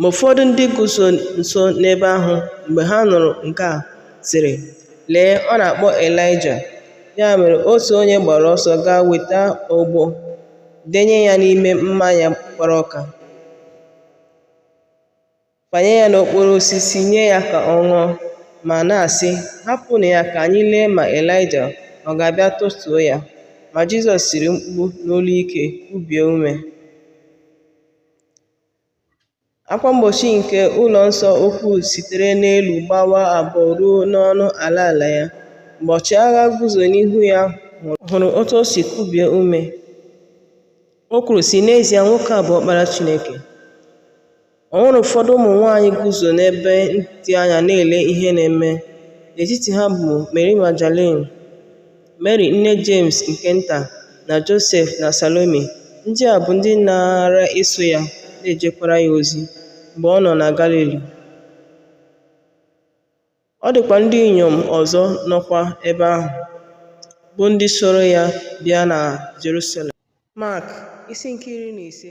Ma ụfọdụ ndị guzo nso n'ebe ahụ mgbe ha nụrụ nke a sịrị, Lee, ọ na-akpọ Ịlaịja. Ya mere otu onye gbara ọsọ gaa weta ogbo, denye ya n'ime mmanya gbara ụka, fanye ya n'okporo osisi nye ya ka ọ ṅụọ, ma na-asị, Hapụnụ ya ka anyị lee ma Ịlaịja ọ ga-abịa tọtuo ya. Ma Jizọs tiri mkpu n'olu ike, kubie ume. Akwa mgbochi nke ụlọ nsọ ukwu sitere n'elu gbawaa abụọ ruo n'ọnụ ala ala ya. Mgbe ọchịagha guzo n'ihu ya hụrụ otu o si kubie ume, o kwuru, sị, N'ezie, nwoke a bụ ọkpara Chineke. O nwere ụfọdụ ụmụ nwaanyị guzo n'ebe dị anya na-ele ihe na-eme. N'etiti ha bụ Meri Magdalin, Meri nne Jemes nke Nta, na Josef na Salome, ndị a bụ ndị naara eso ya na-ejekwara ya ozi mgbe ọ nọ na Galili. Ọ dịkwa ndị inyom ọzọ nọkwa ebe ahụ, bụ ndị soro ya bịa na Jerusalem. Mak isi nke iri na ise.